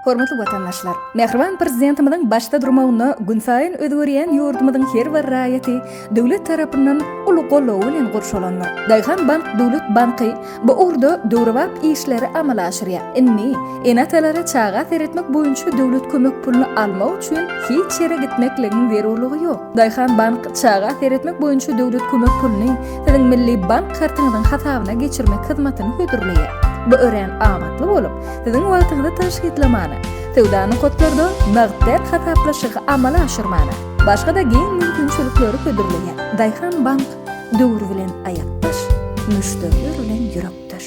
Hormatly watandaşlar! Mähriban Prezidentimiziň başda durmagynda günsaýyn özgerýän ýurdumyzyň her bir raýaty döwlet tarapyndan uly goldaw bilen gurşalandyr. Daýhan bank döwlet banky bu ugurda döwrebap işleri amala aşyrýar. Indi ene-atalara çaga seretmek boýunça döwlet kömek puluny almak üçin hiç ýere gitmekligiň zerurlygy ýok. Daýhan bank Çaga seretmek boýunça döwlet kömek puluny Siziň Milli bank kartyňyzyň hasabyna geçirmek hyzmatyny hödürleýär. Bu örän amatly bolup, Siziň wagtyňyzy tygşytlamana, söwda nokatlarda nagt däl hasaplaşygy amala aşyrmana, başga-da giň mümkinçilikleri hödürleýär. Daýhan bank Döwür bilen aýakdaş, müşderiler bilen ýürekdeş.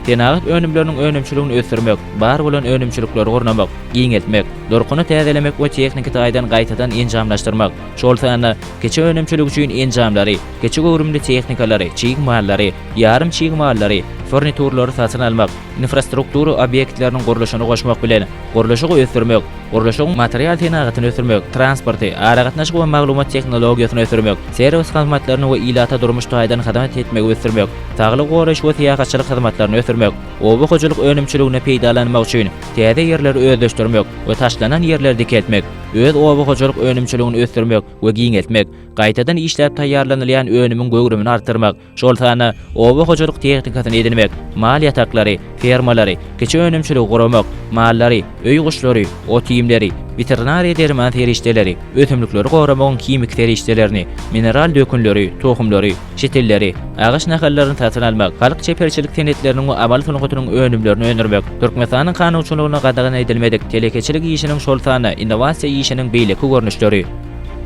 Senagat önümleriniň önümçiligini ösdürmek, bar bolan önümçilikleri gurnamak, giňeltmek, durkuny täzelemek we tehniki taýdan gaýtadan enjamlaşdyrmak, şol sanda kiçi önümçilik üçin enjamlary, kiçi göwrümli tehnikalary, çig mallary, ýarym çig mallary, furniturlary satyn almak, infrastruktura obýektleriniň gurluşyny goşmak bilen, gurluşygy ösdürmek, gurluşygyň material senagatyny ösdürmek, transporty, aragatnaşyk we maglumat tehnologiýasyny ösdürmek, serwis hyzmatlaryny we ilata durmuş taýdan hyzmat etmegi ösdürmek, Saglygy goraýyş we syýahatçylyk hyzmatlaryny ösdürmek, oba hojalyk önümçiligini peýdalanmak üçin täze ýerleri özleşdirmek we taşlanan ýerleri dikeltmek, öz oba hojalyk önümçiligini ösdürmek we giňeltmek, gaýtadan işläp taýýarlanylýan önümiň göwrümini artdyrmak, şol sanda oba hojalyk tehnikasyny edinmek, mal ýataklary, fermalary, kiçi önümçiligi guramak, mallary, öý guşlary, ot-iýmleri, weterinariýa derman serişdeleri, ösümlikleri goramagyň himiki serişdelerini, mineral dökünleri, tohumlary, çet illeri, agaç nahallaryny satyn almak, halk çeperçilik senetleriniň we amal sungatynyň önümlerini öndürmek, Türkmenistanyň kanunçylygyna gadagan edilmedik telekeçilik işiniň şol sanda innowasiýa işiniň beýleki görnüşleri.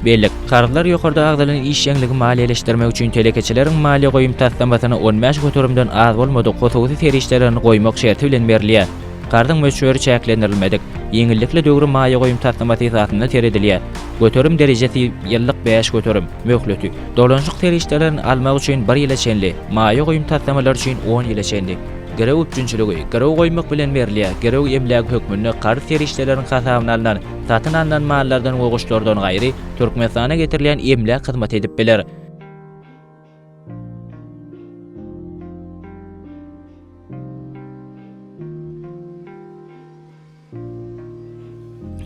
Bellik, Karzlar ýokarda agzalan işjeňligi maliýeleşdirmek üçin telekeçileriň maliýe goýum taslamasyna on bäş göterimden az bolmadyk hususy serişdelerini goýmak şerti bilen berilýär. Karzyň möçberi çäklendirilmedik, ýeňillikli döwri maýa goýum taslamasy esasynda seredilýär. Göterim derejesi, ýyllyk bäş göterim, möhleti. Dolanyşyk serişdelerini almak üçin bir ýyla çenli, maýa goýum taslamalary üçin on ýyla çenli. Girew üpjünçiligi, girew goýmak bilen berilýär, girew emlägi hökmünde karz serişdeleriniň hasabyna alnan, satyn alnan mallardan we goşlardan gaýry, Türkmenistana getirilýän emläk hyzmat edip biler.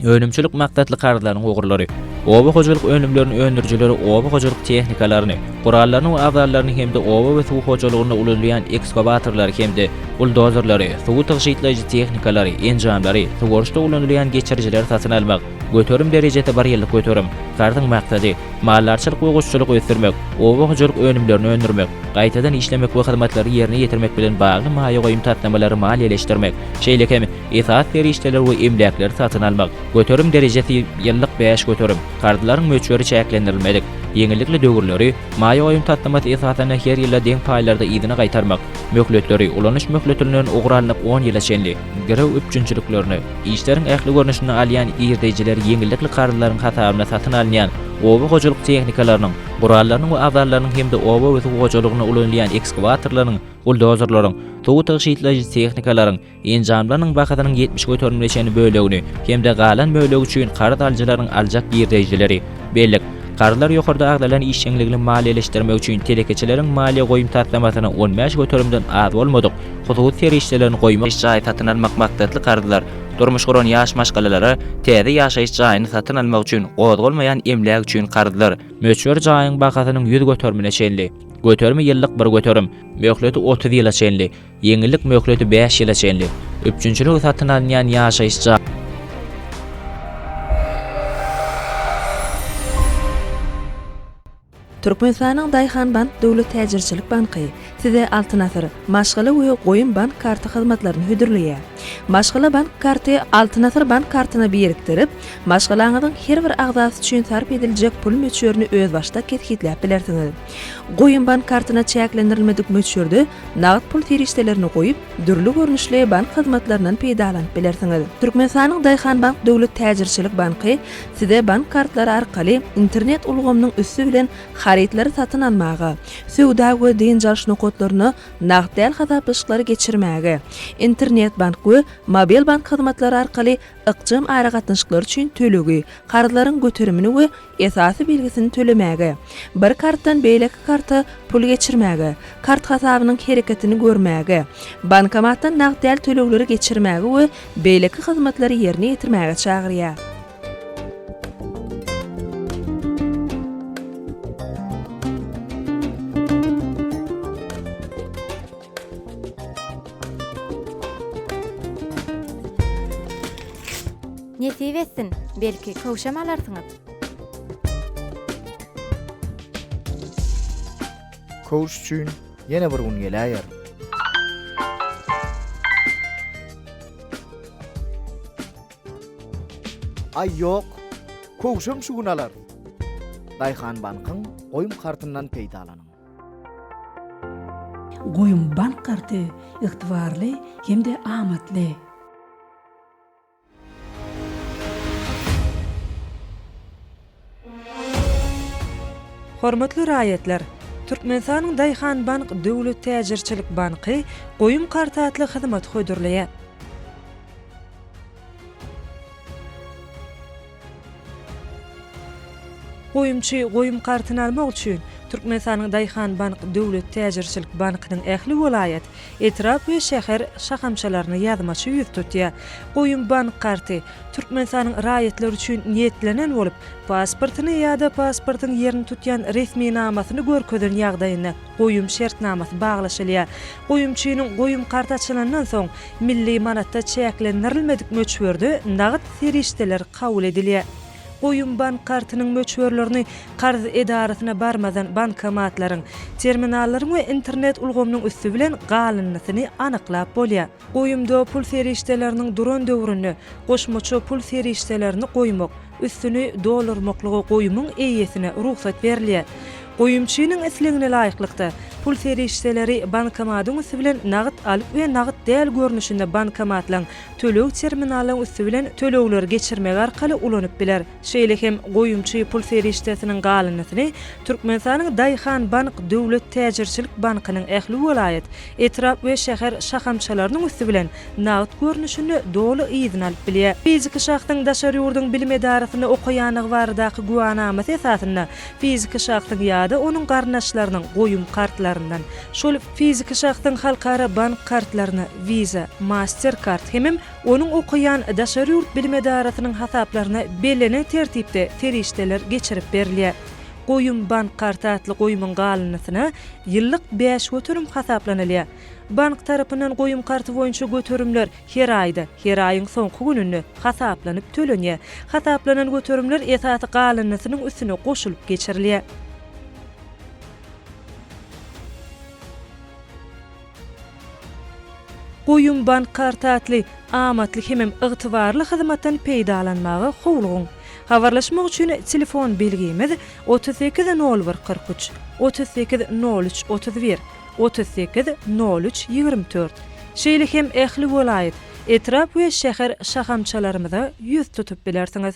Önümçilik maksatly karzlaryň ugurlary Oba hojalyk önümlerini öndürijileri oba hojalyk tehnikalaryny, gurallaryny we aballaryny hem-de oba we suw hojalygynda ulanylýan ekskawatorlary hem-de buldozerleri, suwy tygşytlaýjy tehnikalary, enjamlary, suwaryşda ulanylýan geçirijileri satyn almak. Göterim derejesi bir ýyllyk göterim. Karzyň maksady, maldarçylyk we guşçulygy ösdürmek, oba hojalyk önümlerini öndürmek, gaýtadan işlemek we hyzmatlary ýerine ýetirmek bilen bagly maýa goýum taslamalary maliýeleşdirmek, şeýle hem esasy serişdeler we emläkleri satyn almak, göterim derejesi, ýyllyk bäş göterim, karzlaryň möçberi çäklendirilmedik, ýeňillikli döwürleri, maýa goýum taslamasy esasynda her ýylda deň paýlarda yzyna gaýtarmak, möhletleri, ulanyş möhletilinden ugur alnyp on ýyla çenli, girew üpjünçiliklerini, işleriň ähli görnüşini alýan girdejileri ýeňillikli karzlaryň hasabyna satyn alynýan oba hojalyk tehnikalarynyň, gurallarynyň we agzallarynyň hem-de oba we suw hojalygynda ulanylýan ekskawatorlaryň, buldozerleriň, suw tygşytlaýjy tehnikalaryň, Enjamlarynyň bahasynyň ýetmiş göterimine çenli bölegini hem-de galan bölegi üçin karz alyjylaryň aljak girdeýjileri, bellik, karzlar ýokarda agzalan işjeňligini maliýeleşdirmek üçin telekeçileriň maliýe goýum taslamasyna on bäş göterimden az bolmadyk hususy serişdelerini goýmak, ýaşaýyş jaýy satyn almak maksatly karzlar, durmuş guran ýaş maşgalalara täze ýaşaýyş jaýyny satyn almak üçin gozgalmaýan emläk üçin karzlar, möçber jaýyň bahasynyň ýüz göterimine çenli, göterimi ýyllyk bir göterim, möhleti otuz ýyla çenli, Ýeňillik möhleti bäş ýyla çenli. Üpjünçiligi satyn alynýan ýaşaýyş jaý. Türkmenistanyň Daýhanbank döwlet täjirçilik banky Size Altyn asyr maşgala we goýum bank karty hyzmatlaryny hödürleýär. Maşgala bank karty Altyn asyr bank kartyna birikdirip, maşgalaňyzyň her bir agzasy üçin sarp ediljek pul möçberini özbaşdak kesgitläp bilersiňiz. Goýum bank kartyna çäklendirilmedik möçberde nagt pul serişdelerini goýup, dürli görnüşli bank hyzmatlaryndan peýdalanyp bilersiňiz. Türkmenistanyň Daýhanbank döwlet täjirçilik banky Size bank kartlary arkaly internet ulgamynyň üsti bilen harytlary satyn almaga, söwda we dynç alyş nokatlaryna nagt däl hasaplaşyklary geçirmäge, internet bank we mobil bank hyzmatlary arkaly ykjam aragatnaşyklar üçin tölegi, karzlaryň göterimini we esasy belgisini tölemäge, bir kartdan beýleki karta pul geçirmäge, kart hasabynyň hereketini görmäge, bankomatdan nagt däl tölegleri geçirmäge we beýleki hyzmatlary ýerine ýetirmäge çagyrýar. Nesip etsin, belki, köwşem alarsyňyz. Köwüş üçin ýene bir gün geläýer. Aý ýok, köwşem şu gün alar. Daýhanbankyň goýum kartyndan peýdalanyň. Goýum bank karty ygtybarly hem-de amatly. Hormatly raýatlar! Türkmenistanyň Daýhanbank döwlet täjirçilik banky Goýum karty atly hyzmaty hödürleýär. Goýumçy goýum kartyny almak üçin Türkmenistanyň Daýhanbank döwlet täjirçilik bankynyň ähli welaýat, etrap we şäher şahamçalaryna ýazmaça ýüz tutýar. Goýum bank karty Türkmenistanyň raýatlary üçin niýetlenen bolup, pasportyny ýa-da pasportyň ýerini tutýan resminamasyny görkezen ýagdaýynda, goýum şertnamasy baglaşylýar. Goýumçynyň goýum karty açylandan soň, milli manatda çäklendirilmedik möçberde nagt serişdeler kabul edilýär. Goýum bank kartynyň möçberlerini karz edarasyna barmazdan bankomatlaryň, terminallaryň we internet ulgamynyň üsti bilen galyndysyny anyklap bolýar. Goýumda pul serişdeleriniň duran döwründe goşmaça pul serişdelerini goýmak, üstüni doldurmaklyga goýumyň eýesine rugsat berilýär. Goýumçynyň islegine laýyklykda, pul serişdeleri bankomatyň üsti bilen nagt alyp we nagt däl görnüşinde bankomatlaryň, töleg terminallaryň üsti bilen tölegleri geçirmek arkaly ulanyp biler. Şeýle hem goýumçy pul serişdesiniň galyndysyny Türkmenistanyň Daýhan bank döwlet täjirçilik bankynyň ähli welaýat, etrap we şäher şahamçalarynyň üsti bilen nagt görnüşinde doly yzyna alyp bilýär. Fiziki şahsyň daşary ýurduň bilim edarasynda okaýandygy baradaky güwänamasy esasynda fiziki şahsyň ýa-da onuň garyndaşlarynyň goýum kartlaryndan, şol fiziki şahsyň halkara bank kartlaryna, Visa, Mastercard hemem Onuň okaýan daşary ýurt bilim edarasynyň hasaplaryna bellenen tertipde serişdeler geçirip berilýär. Goýum bank karty atly goýumyň galyndysyna ýyllyk bäş göterim hasaplanylýar. Bank tarapyndan goýum karty boýunça göterimler her aýda, her aýyň soňky gününde, hasaplanyp tölenýär. Hasaplanan göterimler esasy galyndysynyň üstüne goşulyp geçirilýär. Goýum bank karty atly amatly hemem ygtybarly hyzmatdan peýdalanmaga howlugyň. Habarlaşmak üçin telefon belgimiz otuz sekiz nol bir kyrk üç, otuz sekiz nol üç otuz bir, otuz sekiz nol üç ýigrimi dört. Şeýle hem ähli welaýat, etrap we şäher şahamçalarymyza ýüz tutup bilersiňiz.